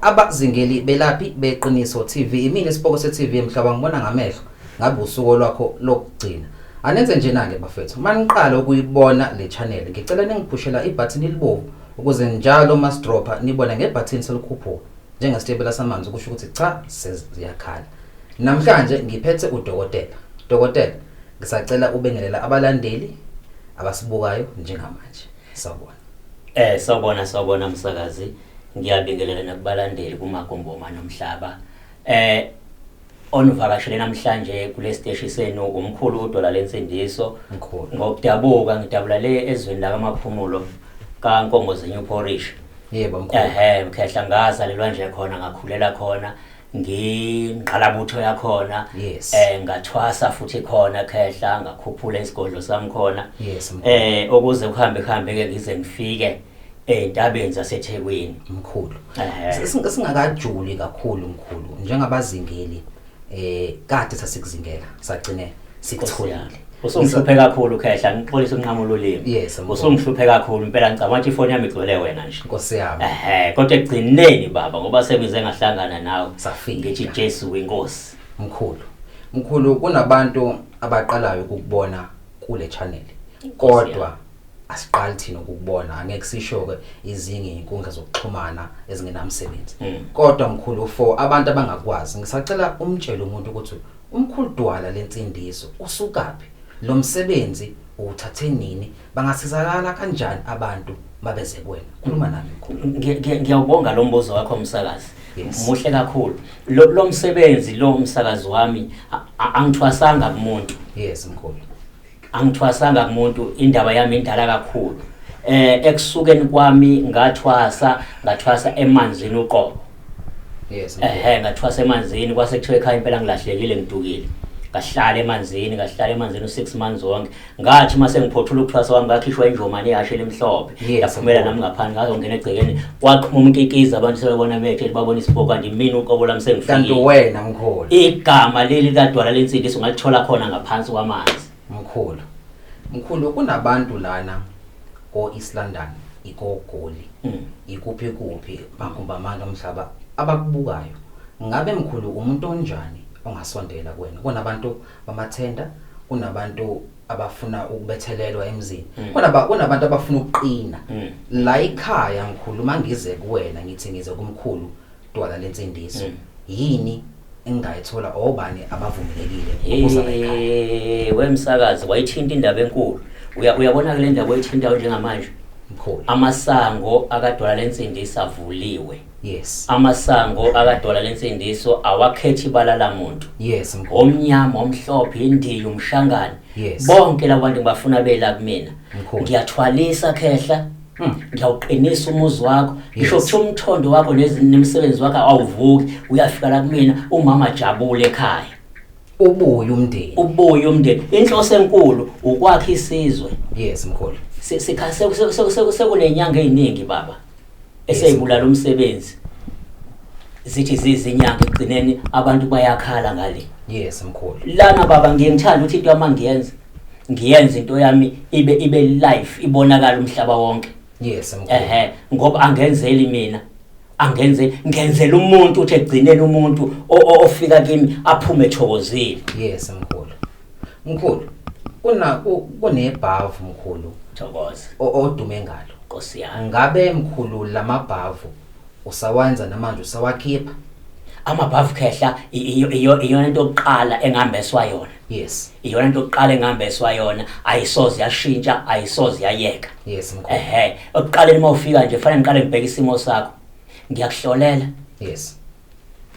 Abazingeli belaphi beqiniso TV imini isiboko se TV emhlaba ngibona ngamehlo ngabe usuku lwakho lokugcina anenze njena ke bafethu maniqala ukuyibona le channel ngicela ningiphushela ibutton elibovu ukuze njalo masdropha nibone ngebutton selikhuphuka njengesitebela samanzi kusho ukuthi cha seziyakhala namhlanje ngiphethe udokotela dokotela ngisacela ubengelela abalandeli abasibukayo njengamanje sawubona Eh sawbona sawbona msakazi ngiyabingelela nakubalandeli kumagomboma nomhlaba eh onivakashele namhlanje kule steshi senu umkhulu udola lensindiso Mkhulu. ngokudabuka ngidabula le ezweni lakamaphumulo kankongozenyu porish yebo mkhulu ehe mkhehla ngazalelwa nje khona ngakhulela khona ngingqalabutho yakhona yes. eh ngathwasa futhi khona khehla ngakhuphula isigodlo sami khona yes, eh ukuze kuhambe kuhambe ke ngize ngifike entabeni zaseThekwini mkhulu singakajuli kakhulu mkhulu njengabazingeli eh kade sasikuzingela sagcinela sikutholile usungihluphe kakhulu khehla ngixolisa unqamo lolimi yes usungihluphe kakhulu impela ngicabanga ukuthi ifoni yami igcwele wena nje nkosi yami ehe kodwa egcineni baba ngoba semize ngahlangana nawe safika ngithi Jesu winkosi mkhulu mkhulu kunabantu abaqalayo ukubona kule channel kodwa asiqali thina ukubona angeke sisho ke izingi inkundla zokuxhumana ezingenamsebenzi hmm. kodwa mkhulu for abantu abangakwazi ngisacela umtshele umuntu ukuthi Umkhulu Dwala lensindiso usukaphi lomsebenzi uwuthathe nini bangasizakala kanjani abantu mabeze kuwena khuluma nami mkhulu ngiyawubonga lo mbuzo wakho msakazi yes. muhle kakhulu lo, lo msebenzi lo msakazi wami angithwasanga kumuntu yes mkhulu angithwasanga kumuntu indaba yami indala kakhulu eh ekusukeni kwami ngathwasa ngathwasa emanzini uqobo yes ehe ngathwasa emanzini kwase kuthiwa ekhaya impela ngilahlekile ngidukile ngahlala emanzini ngahlala emanzini u6 months wonke ngathi mase ngiphothula ukuthwasa kwami ngakhishwa injomane yashe lemhlophe yaphumela nami ngaphandle ngazongena egcekeni waqhuma umkikiza abantu sebebona bethe babona isibhobo kanti mina uqobo lami kanti sengifikile uwena mkhulu igama leli kadwala lensindiso ngalithola khona ngaphansi kwamanzi mkhulu mkhulu kunabantu lana ko East London ikogoli Mm. ikuphi kuphi makhumba amandla omhlaba abakubukayo ngabe mkhulu umuntu onjani ongasondela kuwena kunabantu bamathenda kunabantu abafuna ukubethelelwa emzini mm. kunaba kunabantu abafuna ukuqina mm. la ikhaya ngikhulu mangize kuwena ngithi ngize kumkhulu dwala lensindiso mm. yini engayithola obani abavumelekile ukuza la ikhaya wemsakazi wayithinta indaba enkulu uyabona ke le ndaba oyithintayo njengamanje mkhulu amasango akadwala lensindiso avuliwe Yes. Amasango akadola lensindiso awakhethi ibala lamuntu. Yes mkhulu. Omnyama, omhlophe, indiyi, umshangane. Yes. Bonke labantu ngibafuna bela kumina. Mkhulu. Ngiyathwalisa khehla. Mm. Ngiyawuqinisa umuzi wakho. Ngisho yes. ukuthi umthondo wakho nezimsebenzi wakho awuvuki, uyafika la kumina umama jabule ekhaya. Ubuye umndeni. Ubuye umndeni. Inhloso enkulu ukwakha isizwe. Yes mkhulu. Sikha sekunenyanga eziningi baba. eseyibulala umsebenzi zithi zizinyanga ekugcineni abantu bayakhala ngale yes mkhulu lana baba ngiyengithanda ukuthi into yami ngiyenze ngiyenze into yami ibe ibe life ibonakala umhlaba wonke yes mkhulu ehe ngoba angenzeli mina angenze ngenzela umuntu uthi egcinele umuntu ofika kimi aphume ethokozile yes mkhulu Mkhulu, kuna ku- kunebhavu mkhulu Thokoza. o- odume ngalo. Nkosi yami. Ngabe mkhulu lamabhavu usawenza namanje usawakhipha? Amabhavu khehla i- iyo- iyo- iyona into yokuqala engihambeswa yona. Yes. Iyona into yokuqala engihambeswa yona, ayisoze yashintsha, ayisoze yayeka. Yes mkhulu. Ehhe, ekuqaleni uma ufika nje fanele ngiqale ngibheke isimo sakho. Ngiyakuhlolela. Yes.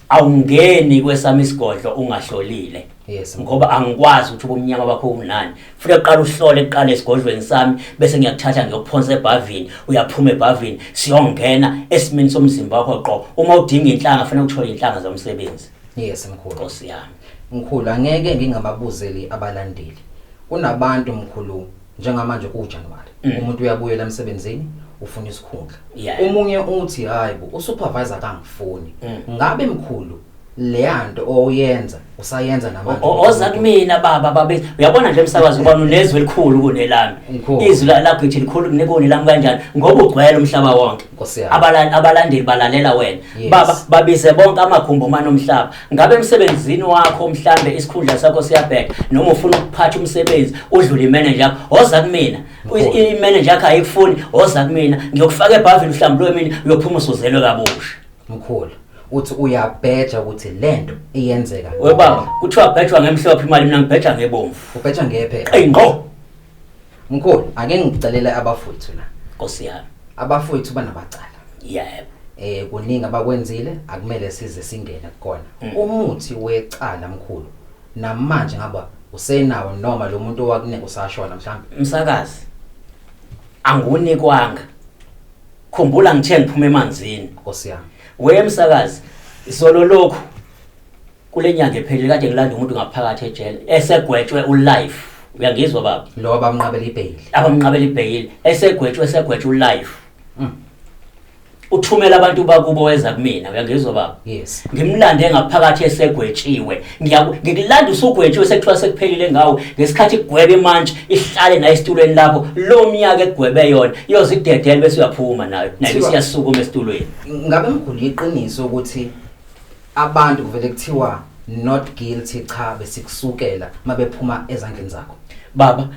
awungeni kwesami isigodlo ungahlolile yes ngoba angikwazi ukuthi ubumnyama bakho unani futhi uqala uhlole kuqala esigodlweni sami bese ngiyakuthatha ngiyokuphonsa ebhavini uyaphuma ebhavini siyongena esimini somzimba wakho qo uma udinga inhlanga fanele uthole inhlanga zomsebenzi yes mkhulu nkosi yami mkhulu angeke ngingababuzeli abalandeli kunabantu mkhulu njengamanje kujanuwari mm. umuntu uyabuyela emsebenzini ufuna isikhundla yeah. umunye uthi hayi bo usupervisor kangifuni mm. ngabe mkhulu leyanto oyenza usayenza namanje oza kumina baba babe uyabona nje umsakazi ubona unezwe elikhulu kunelami izwi lakho ithi likhulu kunekoni lami kanjani ngoba ugcwele umhlaba wonke abalandeli balalela wena baba babize bonke amakhumbo manomhlaba Ngabe emsebenzini wakho mhlambe isikhundla sakho siyabheka noma ufuna ukuphatha umsebenzi udlule imanager yakho woza kumina imanager yakho ayikufuni woza kumina ngiyokufaka ebhavini uhlambulwe mina uyophuma usuzelwe kabusha mkhulu uthi uyabheja ukuthi lento iyenzeka we baba kuthiwa bhejwa ngemhlophe imali mina ngibheja ngebomvu ubheja ngephe eyi ngqo Mkhulu, ake ngicelele abafowethu la. Nkosi yami. Abafowethu banamacala. Yebo. Eh kuningi abakwenzile akumele size singene kukona. Mm. Umuthi wecala mkhulu namanje ngaba usenawo noma lo muntu owakunika usashona mhlawumbe. Msakazi. Angunikwanga. Khumbula ngithe ngiphuma emanzini. Nkosi yami. Wemsakazi, izolo lokhu kule nyanga ephelile kade ngilanda umuntu ngaphakathi ejele esegwetshwe ulife uyangizwa baba lo abamnqabela ibheyili abamnqabela ibheyili esegwetshwe esegwetshwe ulife mm. uthumela abantu bakubo weza kumina uyangizwa baba yes ngimlande ngaphakathi esegwetshiwe ngiyakilanda usugwetshiwe sekuthiwa sekuphelile ngawo ngesikhathi igwebe manje ihlale nayo esitulweni lapho lo myaka egwebe yona iyozidedela bese uyaphuma nayo nayo siyasukuma esitulweni ngabe mguni iqiniso ukuthi Abantu kuvele kuthiwa not guilty cha besikusukela mabephuma ezandleni zakho. Baba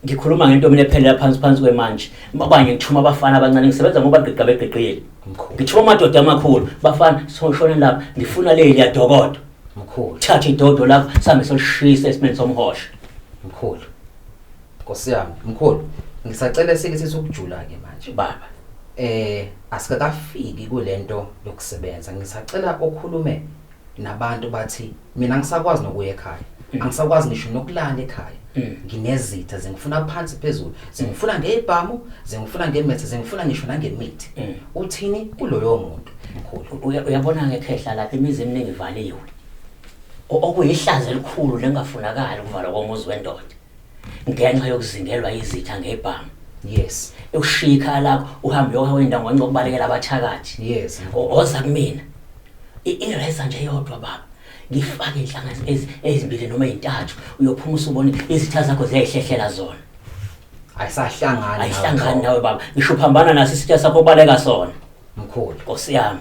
ngikhuluma ngento mina ephelela phansi phansi kwemanje abanye ngithuma abafana abancane ngisebenza ngoba gqiqa begqiqile Mkhulu. ngithuma amadoda amakhulu bafana soshone lapha ngifuna leli yadokodo Mkhulu. thatha idodo lakho sambe solishisa esimeni somhosha Mkhulu. Nkosi yami, mkhulu, ngisacela sikisisa ukujula ke manje. Baba, eh asikakafiki kulento yokusebenza. Ngisacela okhulume nabantu bathi mina ngisakwazi nokuya ekhaya. Mm. Angisakwazi ngisho nokulala ekhaya. Mm. Nginezitha zingifuna phansi phezulu. Zingifuna ngeibhamu, zingifuna ngemethe, zingifuna ngisho nangemithi. Mm. Uthini kuloyo muntu? Mkhulu, uyabona ngekhehla lapha imizi eminingi ivaliwe. Okuyihlazo elikhulu lengafunakala ukuvalwa komuzi wendoda. ngenxa yokuzingelwa izitha ngebhamu yes ushiya ikhaya lakho uhambe uyohawenda ngwanca ukubalekela abathakathi yes oza kumina ireza nje yodwa baba ngifake inhlangano ezimbili noma ezintathu uyophuma usubone izitha zakho ziyayihlehlela zona ayisahlangani ayihlangani nawe baba ngisho phambana naso isitha sakho baleka sona mkhulu nkosi yami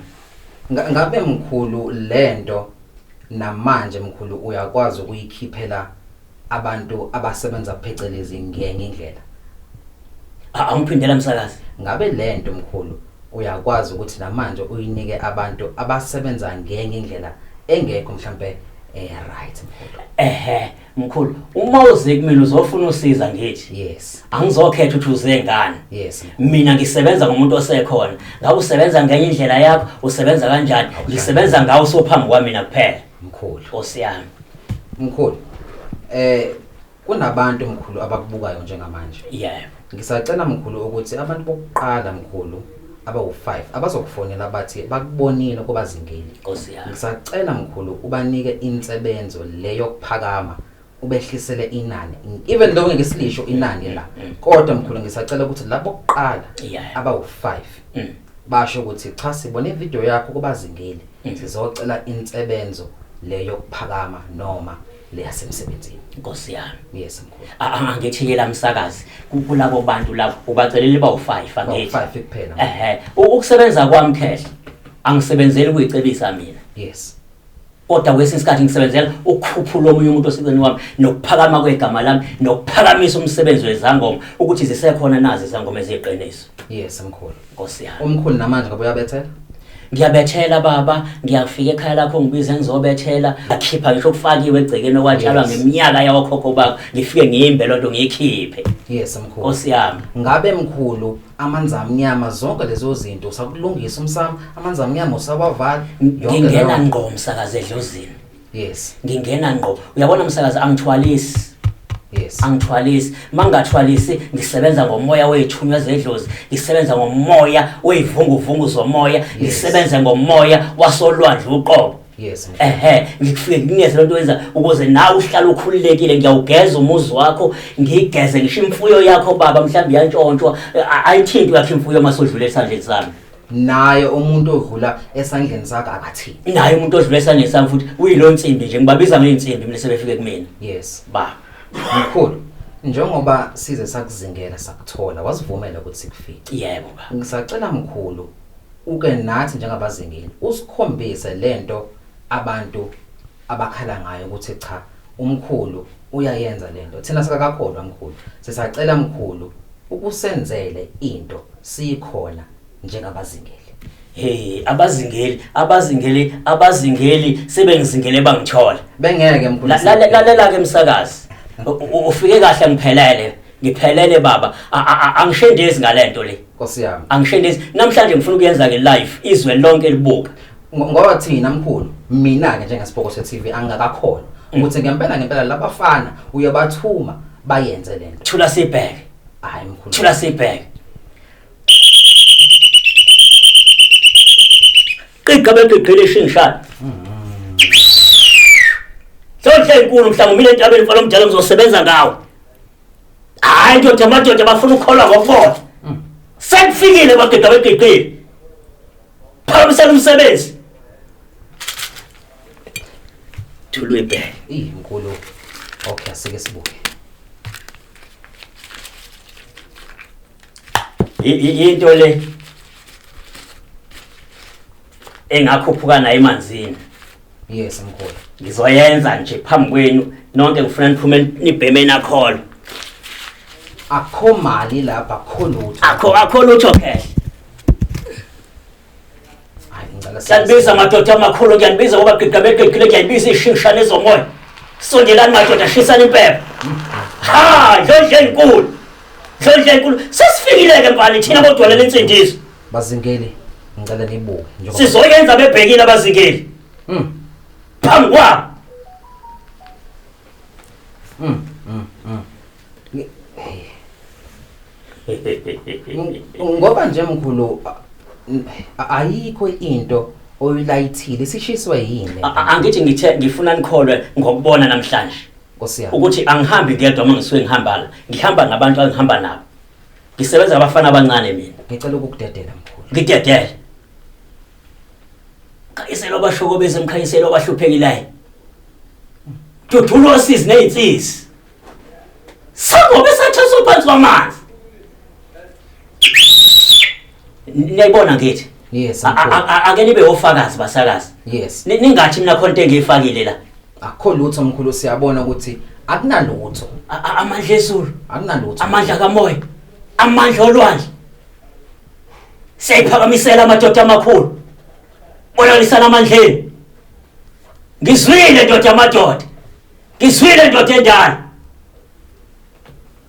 ngabe mkhulu lento namanje mkhulu uyakwazi ukuyikhiphela abantu abasebenza phecelezi ngenye indlela A- angiphindela msakazi ngabe lento mkhulu uyakwazi ukuthi namanje uyinike abantu abasebenza ngenye indlela engekho mhlambe eh right mkhulu ehe mkhulu uma uze kumina uzofuna usiza ngithi yes angizokhetha ukuthi uze ngani yes mkhulu. mina ngisebenza ngomuntu osekhona ngabe usebenza ngenye indlela yakho usebenza kanjani ngisebenza ngawe usophambi kwamina kuphela Mkhulu. Nkosi yami. Mkhulu. Eh kunabantu mkhulu abakubukayo njengamanje. Yeah. Ngisacela mkhulu ukuthi abantu bokuqala mkhulu abawu-5 abazokufonela bathi bakubonile kubazingeli. Nkosi yami. Ngisacela mkhulu ubanike insebenzo leyo kuphakama ubehlisele inani even though ngeke silisho inani la mm, mm. kodwa mkhulu ngisacela ukuthi labo kuqala abawu5 mm. basho ukuthi cha sibona ivideo yakho kubazingile sizocela insebenzo leyo kuphakama noma leyasemsebenzini inkosi yami yes mkhulu angithi yela msakazi kulabo bantu labo ubacelele bawu5 angithi 5 kuphela ehe ukusebenza kwami khehla angisebenzeli kuyicebisa mina yes kodwa kwesinye isikhathi ngisebenzela ukukhuphula omunye umuntu oseceleni wami nokuphakama kwegama lami nokuphakamisa umsebenzi wezangoma ukuthi zisekhona nazi izangoma eziyiqiniso yes mkhulu nkosi yami umkhulu namanje ngoba uyabethela ngiyabethela baba ngiyafika ekhaya lakho ngibize ngizobethela akhipha ngisho kufakiwe egcekeni okwatshalwa yes. ngeminyaka yawokhokho bakho ngifike ngiyimbe loo nto ngiyikhiphe yes mkhulu nkosi yami ngabe mkhulu amanzi amnyama zonke lezo zinto usakulungisa umsamo amanzi amnyama usawavala ngingena ngqo msakazi edlozini yes ngingena ngqo uyabona msakazi angithwalisi yes angithwalisi mangathwalisi ngisebenza ngomoya wethunywa zedlozi ngisebenza ngomoya weyivunguvungu zomoya ngisebenze ngomoya wasolwandle uqobo Yes. Ehhe, ngikufike ngineze lento wenza ukuze nawe uhlale ukhululekile ngiyawugeza umuzi wakho, ngigeze ngisho imfuyo yakho baba mhlawumbe iyantshontshwa, a- ayithintwe yakho imfuyo uma sodlula esandleni sami. Naye umuntu odlula esandleni sakhe akathini. Naye umuntu odlula esandleni sami futhi uyilo nsimbi nje ngibabiza ngeyinsimbi mina sebefike kumina. Yes. Ba. Mkhulu, njengoba size sakuzingela sakuthola, wasivumela ukuthi sikufice. Yebo ba. Ngisacela mkhulu Uke nathi njengabazingeli usikhombise lento abantu abakhala ngayo ukuthi cha umkhulu uyayenza lento thina sikakakholwa mkhulu sisacela mkhulu ukusenzele into siyikhona njengabazingeli Hey abazingeli abazingeli abazingeli sebengizingele bangithola bengeke mkhulu lalela ke msakazi ufike kahle ngiphelele ngiphelele baba angishendezi ngalento le nkosi yami angishendezi namhlanje ngifuna ukuyenza ke live izwe lonke libuka ngoba thina mkhulu mina ke njengesibhoko se TV angakakhona mm. ukuthi ngempela ngempela labafana uyabathuma bayenze lento thula sibheke hayi mkhulu thula sibheke qiqa beqiqile shingshana mm-hmm. Sewuhle inkulu mhlawumbe mina entabeni mfana omdala ngizosebenza ngawo hayi ndoda amadoda bafuna ukukholwa ngokubona mm. sekufikile madoda begeqile phakamisela umsebenzi thulwebhe iyinkulu okay asike sibuke into le engakhuphuka nayo emanzini yes mkhulu ngizoyenza nje phambi kwenu nonke ngifuna niphume nibheme nakholo akho mali lapha akho lutho akho akho lutho cash kuyanibiza madoda amakhulu kuyanibiza ngoba gigamegegile kuyanibiza ishingishane ezomoya sondelani madoda shisani impepha ha ndlondla enkulu ndlondla enkulu sesifikile-ke mfana thina bodwalela insindiso Bazingeli ngicela nibuke njengoba Sizoyenza bebhekile abazingeli. Mm. Phambi kwabo. Mm. Mm. mm. Ni- Ng- Ngoba nje mkhulu a- n- a- ayikho into oyilayithile sishiswe yini A- a- Angithi ngithe ngifuna nikholwe ngokubona namhlanje. Nkosi yami. ukuthi angihambi ngedwa uma ngisuke ngihambala ngihamba nabantu engihamba nabo Ngisebenza abafana abancane mina. Ngicela ukukudedela mkhulu. Ngidedele. Khanyisela abashoko bese mkhanyisela abahluphekelayo. Dudula osizi nezinsisi. Sangobe sathatha uphansi kwamanzi. niyayibona ngithi yes A- a- a- ake nibe ofakazi basakazi yes Ni- ningathi mina khona into engiyifakile la akho lutho mkhulu siyabona ukuthi akunalutho A- a- amandla ezulu akunalutho amandla kamoya amandla olwandle siyayiphakamisela amadoda amakhulu bonakalisana amandleni ngizwile ndoda amadoda ngizwile ndoda endala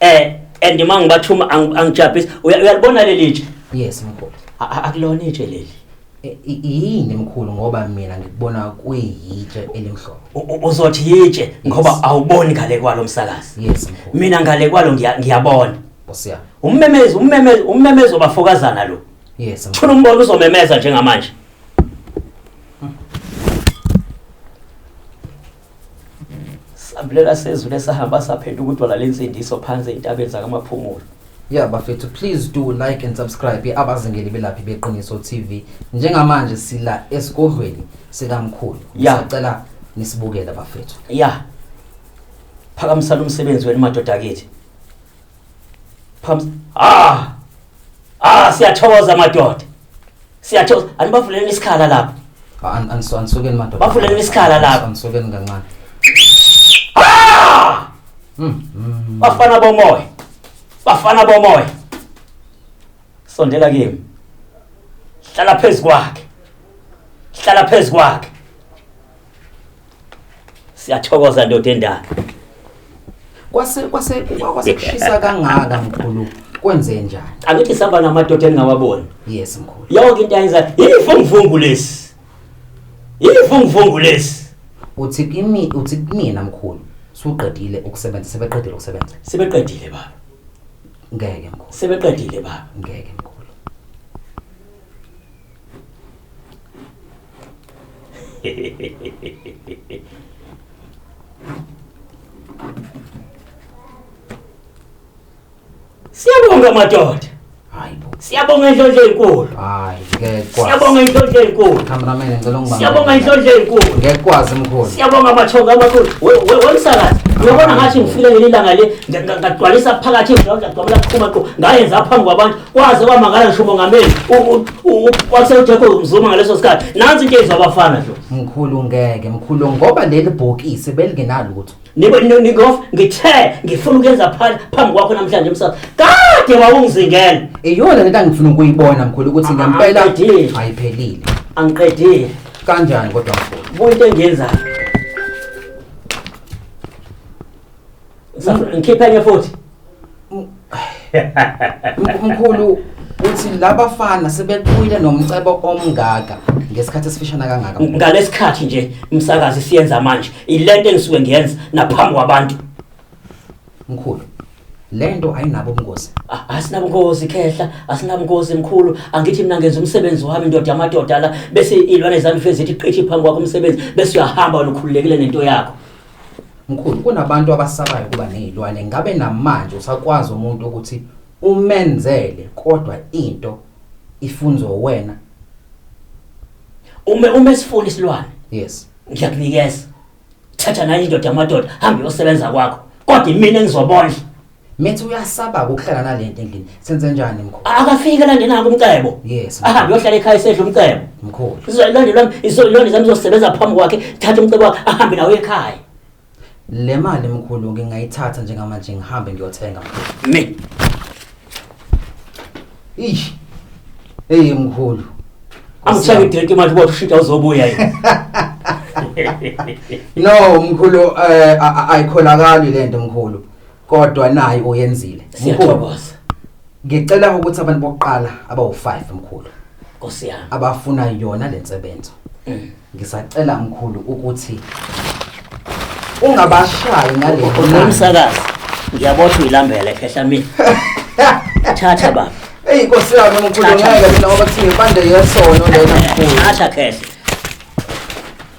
eh and uma ngibathuma ang- angijabhisi Uya- uyalibona leli tshe yes mkhulu A- a- akulona itshe leli E- i- yini mkhulu ngoba mina ngikubona kuyitshe elimhlophe U- u- uzothi yitshe ngoba Yes. awuboni ngale kwalo msakazi yes mkhulu mina ngale kwalo ngiya- ngiyabona nkosi yami ummemezi ummemezi ummemezi obafokazana lo yes mkhulu funa umbona uzomemeza njengamanje sambulela sezulu esahamba saphetha ukudwala lensindiso phansi ezintabeni zakamaphumulo ya bafethu please do like and subscribe abazingeli belaphi beqiniso tv njengamanje sila esigodlweni sikamkhulu Ya. sacela nisibukele bafethu ya phakamisana umsebenzi wenu madoda akithi Phamsi. Ah! Ah, siyathokoza madoda. Siyathokoza. Anibavuleni isikhala lapha. An- ansu- Anisukeni madoda. Bavuleni isikhala lapha. Ansu- Anisukeni kancane. Ah! Mm, mm. Bafana bomoya. Bafana bomoya. Sondela kimi. Hlala phezu kwakhe. Hlala phezu kwakhe. Siyathokoza ndoda endala. Kwase kwase kwase kushisa kangaka mkhulu. Kwenze njani? Angithi saba namadoda engawaboni. Yes mkhulu. Yonke into ayenza yivunguvungu lesi. Yivunguvungu lesi. Uthi kimi uthi kumina mkhulu. Suqedile ukusebenza sebeqedile ukusebenza. Sebeqedile baba. Ngeke mkhulu. Sebeqedile baba. Ngeke mkhulu. Siyabonga madoda. Hayibo. Siyabonga inhlonhle enkulu. Hayi, ngeke kwazi. Siyabonga inhlonhle enkulu. Cameraman ngicela ungibambe. Siyabonga inhlonhle enkulu. Ngeke kwazi mkhulu. Siyabonga amathonga amakhulu. Wemsakazi, uyabona ngathi ngifile leli langa le ngagcwalisa phakathi ngidla ngagcwala kuqhuma qo. Ngayenza phambi kwabantu kwaze kwamangala ngisho umongameli wasejacob mzuma ngaleso sikhathi nansi into eyenziwa abafana nje mkhulu ngeke mkhulu ngoba leli bhokisi belingenalutho ningof ngithe ngifuna ukuyenza phambi kwakho namhlanje msasa kade wawungizingela iyona lento angifuna ukuyibona mkhulu ukuthi ah, ngempela ayiphelile angiqedile kanjani kodwa mkhulu buyi into engiyenzayo Ngikhiphe enye futhi. Mkhulu uthi laba fana sebeqhwile nomcebo omngaka ngesikhathi esifishana kangaka. Ngalesikhathi nje umsakazi siyenza manje ilento engisuke ngiyenza naphambi kwabantu. Mkhulu lento ayinabo ubungozi asinabungozi khehla asinabungozi mkhulu angithi mina ngenza umsebenzi wami ndoda yamadoda la bese ilwane zami fezi ithi qithi phambi kwakho umsebenzi bese uyahamba wena ukhululekile nento yakho Mkhulu kunabantu abasabayo kuba nezilwane ngabe namanje usakwazi umuntu ukuthi umenzele kodwa into ifunzo wena uma uma sifuna isilwane yes ngiyakunikeza thatha nayo indoda yamadoda hambe uyosebenza kwakho kodwa imina engizobondla Methi uyasaba ukuhlala nalento endlini. Senze njani mkhulu? Akafike lande nako umcebo. Yes. Ahambe yohlala ekhaya esedla umcebo. Mkhulu. Sizolonda lwami izolonda zami zosebenza phambi kwakhe, thatha umcebo wakhe ahambe nawo ekhaya. Le mali mkhulu ngingayithatha njengamanje ngihambe ngiyothenga mkhulu. Me. Ish. Hey mkhulu. Angishaya idrink manje uba ushintsha uzobuya yini. No mkhulu eh ayikholakali lento mkhulu. Kodwa nayi oyenzile. Siyathokoza. Ngicela ukuthi abantu bokuqala abawu5 mkhulu. Nkosi yami. Abafuna yona lensebenzo. Mm. Ngisacela mkhulu ukuthi ungabashayi ngale ngomsakazi. Ngiyabotha uyilambele khehla mina. Thatha baba. Ey Nkosi yami mkhulu ngeke mina ngoba kuthi ngipande yesono lena mkhulu. Thatha khehla.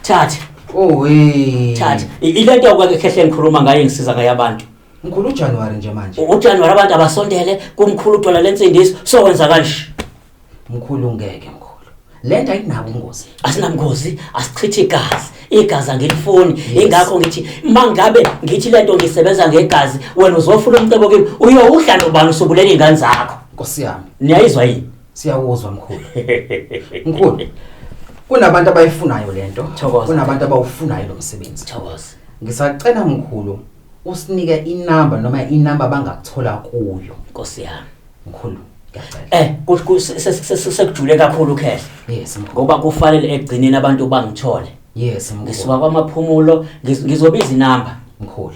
Thatha. Owe. Thatha. I- Ile nto yokwake khehle ngikhuluma ngayo ngisiza ngayo abantu. Mkhulu uJanuary nje manje. U- UJanuary abantu abasondele kumkhulu udola lensindiso sokwenza kanje. Mkhulu ngeke mkhulu. Lento ayinabo ingozi. Asinamngozi, asichithi igazi. Igazi angilifuni. Yes. Ingakho ngithi mangabe ngithi lento ngisebenza ngegazi, wena uzofuna umcebo kimi. Uyowudla nobani usubulele ingane zakho. Nkosi yami. Niyayizwa yini? Siyakuzwa mkhulu. Mkhulu. Kunabantu abayifunayo lento. Kunabantu abawufunayo lo msebenzi. Thokoza. Ngisacela mkhulu usinike inamba noma inamba bangakuthola kuyo. Nkosi yami. Mkhulu. Eh sekujule kakhulu ukhehla. Yes mkhulu. Ngoba kufanele egcineni abantu bangithole. Yes mkhulu. Ngisuka kwamaphumulo ngizobiza inamba mkhulu.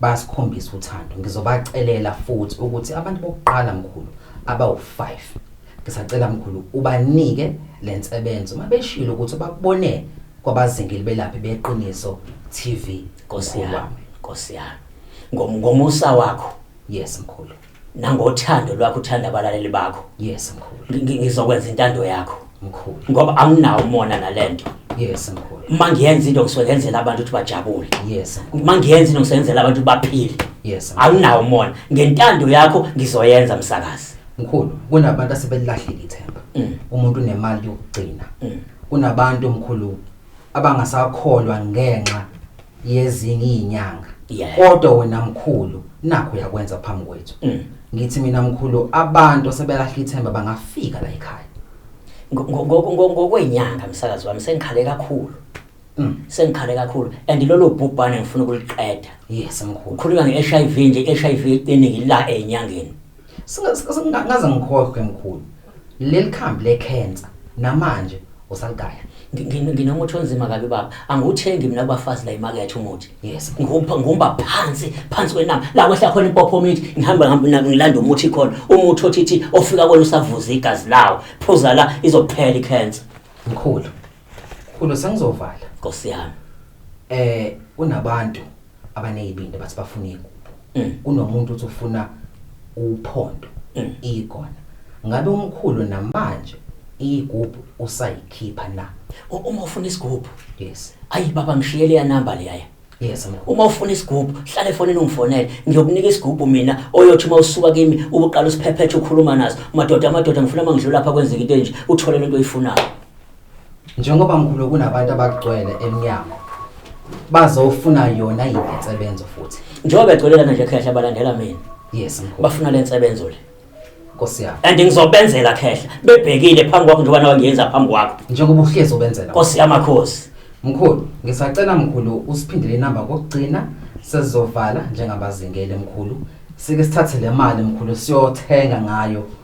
basikhombisa uthando ngizobacelela futhi ukuthi abantu bokuqala mkhulu abawu5 ngisacela mkhulu ubanike lensebenzo uma beshilo ukuthi bakubone kwabazingile belaphi beqiniso TV Nkosi yami Nkosi yami ngomusa wakho yes mkhulu nangothando lwakho uthanda abalaleli bakho yes mkhulu Ngi- ngi- ngizokwenza intando yakho mkhulu ngoba anginawo umona nalento yes mkhulu uma ngiyenza into ngisuke ngenzela abantu ukuthi bajabule yes mkhulu uma ngiyenza into ngisuke ngenzela abantu ukuthi baphile yes mkhulu. anginawo umona ngentando yakho ngizoyenza msakazi mkhulu kunabantu asebelilahlile ithemba Mm. umuntu unemali yokugcina Mm. kunabantu mkhulu abangasakholwa ngenxa yezinye izinyanga Yeah. kodwa wena mkhulu nakho uyakwenza phambi kwethu Mm. ngithi mina mkhulu abantu asebelahla ithemba bangafika la ekhaya Ngo- ngo- ngo- ngo- Ngokwenyanga msakazi wami sengikhale kakhulu. Mm. Sengikhale kakhulu and lolo bhubhane ngifuna ukuliqeda. yes mkhulu Ukhuluma ngeHIV nje, HIV iqinile la enyangeni. Singa- singa- ngaze ngikhohlwe mkhulu Leli khambi lekhensa namanje usaligaya. Nginomuthi onzima kabi baba. Angiwuthengi mina kubafazi la imakethe umuthi. Yes. Ngihupha ngihumba phansi, phansi kwenama. La kwehla khona impopho mithi, ngihamba ngihamba nami ngilanda umuthi khona. Umuthi othithi ofika kwena usavuza igazi lawo. Phuza la izophela ikhensa. Mkhulu. Kulo sengizovala. Nkosi yami. Eh kunabantu abanezibindi bathi bafuna igubu. Mm. Kunomuntu uthi ufuna uphondo mm. ikona. Ngabe umkhulu namanje igubu usayikhipha na? Uma ufuna isigubu. Yes. Ayi baba ngishiyele ya number leya. Yes mkhulu. Uma ufuna isigubu, hlale efonini ungifonele. Ngiyokunika isigubu mina oyothi uma usuka kimi ubuqala usiphephethe ukhuluma naso. Madoda amadoda ngifuna mangidlula lapha kwenzeka into enje, uthole lento oyifunayo. Njengoba mkhulu kunabantu abagcwele emnyango bazofuna yona yini insebenzo futhi. Njengoba begcwele lana nje khehla balandela mina. Yes mkhulu. Bafuna le nsebenzo le. Nkosi yami. And ngizobenzela khehla bebhekile phambi kwakho njengoba nawe ngiyenza phambi kwakho. Njengoba uhlezi ubenzela. Nkosi yamakhosi. Mkhulu, ngisacela mkhulu usiphindele inamba kokugcina sezovala njengabazingele mkhulu. Sike sithathe le mali mkhulu siyothenga ngayo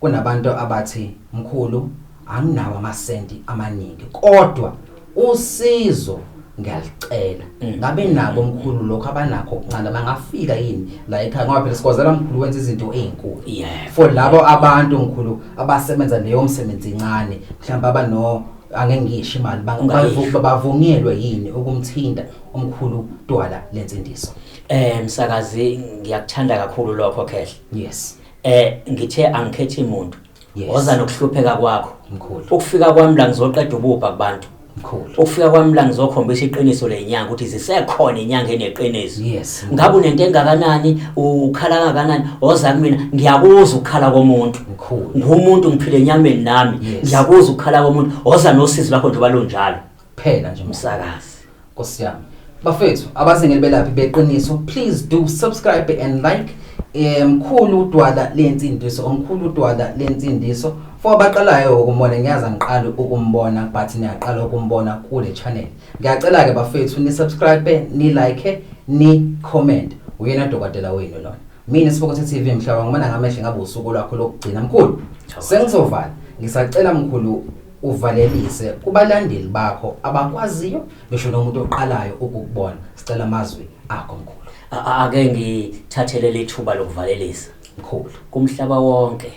Kunabantu abathi mkhulu anginawo amasenti amaningi kodwa usizo ngiyalicela mm. ngabe nabo mkhulu lokho abanakho okuncane bangafika yini la ekhaya ngoba phela sikwazela mkhulu wenza izinto ezinkulu for labo abantu mkhulu abasebenza leyo msebenzi incane mhlawumbe abano angeke ngisho imali bavunyelwe yini ukumthinta umkhulu twala lensindiso eh msakazi ngiyakuthanda kakhulu lokho khehle yes eh ngithe angikhethi muntu Yes. woza nokuhlupheka kwakho Mkhulu. ukufika kwami la ngizoqeda ububha kubantu Mkhulu. ukufika kwami la ngizokhombisa iqiniso lenyanga ukuthi zisekhona inyanga eneqiniso Yes. ngabe unento engakanani ukhala kangakanani woza kumina ngiyakuzwa ukukhala komuntu Mkhulu. ngumuntu ngiphile enyameni nami Yes. ngiyakuzwa ukukhala komuntu woza nosizi lwakho njengoba lunjalo kuphela nje umsakazi nkosi yami bafethu abazingeli belaphi beqiniso please do subscribe and like eh, mkhulu udwala lensindiso omkhulu udwala lensindiso for abaqalayo ukumona ngiyaza ngiqala ukumbona but niyaqala ukumbona kule channel ngiyacela ke bafethu ni subscribe ni like ni comment uyena dokotela wenu lona mina sibokothe TV mhlaba ngibona ngamehlo ngabe usuku lwakho lokugcina mkhulu sengizovala ngisacela mkhulu uvalelise kubalandeli bakho abakwaziyo ngisho nomuntu oqalayo ukukubona sicela amazwi akho mkhulu A- a- ake ngithathele lethuba lokuvalelisa mkhulu kumhlaba wonke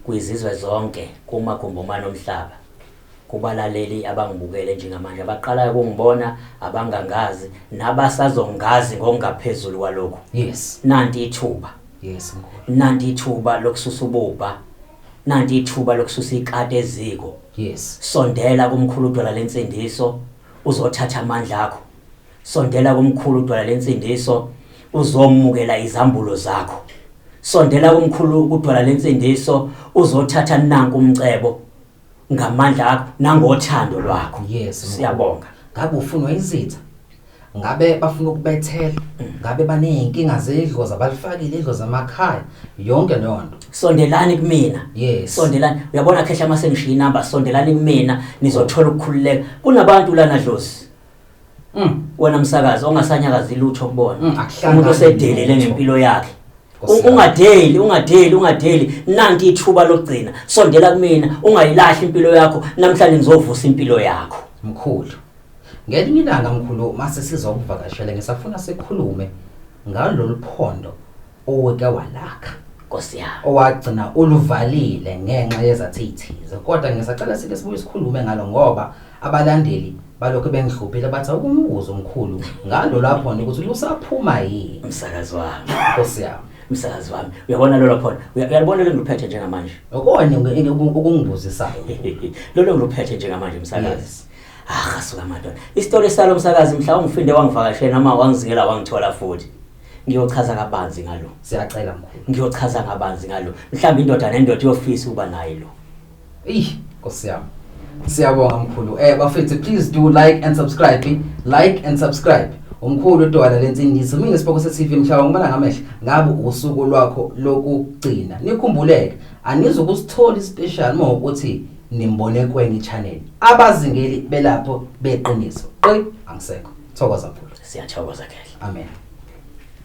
kwizizwe zonke kumagumbomane omhlaba Kubalaleli abangibukele njengamanje, abaqalayo ukungibona, abangangazi, nabasazongazi ngokungaphezulu kwalokhu. Yes. Nanti ithuba. Yes, mkhulu. Nanti ithuba lokususa ububha. Nanti ithuba lokususa ikati eziko. Yes. Sondela kumkhulu udwala lensindiso, uzothatha amandla akho. Sondela kumkhulu udwala lensindiso, uzomukela izambulo zakho. Sondela kumkhulu udwala lensindiso, uzothatha nanku umcebo. ngamandla akho nangothando lwakho yes mkhulu. siyabonga ngabe ufunwa izitha ngabe bafuna ukubethela ngabe baney'nkinga zedlozi abalifakile idlozi emakhaya yonke leyo nto sondelani kumina Yes. sondelani uyabona khehla uma sengishiyinamba sondelani kumina nizothola ukukhululeka kunabantu lana dlozi Mm. Wena msakazi ongasanyakazi lutho kubona. Mm, Umuntu osedelele ngempilo yakhe. Ungadeli, ungadeli, ungadeli. Nanti ithuba lokugcina. Sondela kumina, ungayilahli impilo yakho. Namhlanje ngizovusa impilo yakho. Mkhulu. Ngelinye ilanga mkhulu mase sizokuvakashela ngisafuna sikhulume ngalolu phondo uweke walakha Nkosi yami. owagcina uluvalile ngenxa yezathithize kodwa ngisacela sike sibuye sikhulume ngalo ngoba abalandeli balokhu bengihluphile bathi awukumbuza umkhulu ngalo lapho nje ukuthi lusaphuma yini Msakazi wami. Nkosi yami Msakazi wami. Uyabona lolo khona. Uya- Uyalibona lelo ngiluphethe njengamanje. okonye ngi- ngi- okungibuzisayo Lolo ngiluphethe njengamanje msakazi. Yes. Ah, suka madoda. Isitori salo msakazi mhla ungifinde wangivakashela noma wangizingela wangithola futhi. Ngiyochaza kabanzi ngalo. Siyacela mkhulu. Ngiyochaza kabanzi ngalo. Mhlawumbe indoda nendoda iyofisa ukuba naye lo. Eish, Nkosi yami. Siyabonga mkhulu. Eh bafethu please do like and subscribe. Like and subscribe. Umkhulu udwala lensindiso mina isiboko seTV mhlaba ngibona ngamehla ngabe usuku lwakho lokugcina. Nikhumbuleke anizukusthola ispecial uma ukuthi nimbone kwenye channel abazingeli belapho beqiniso qi angisekho thokoza mfowethu siyathokoza khehle amen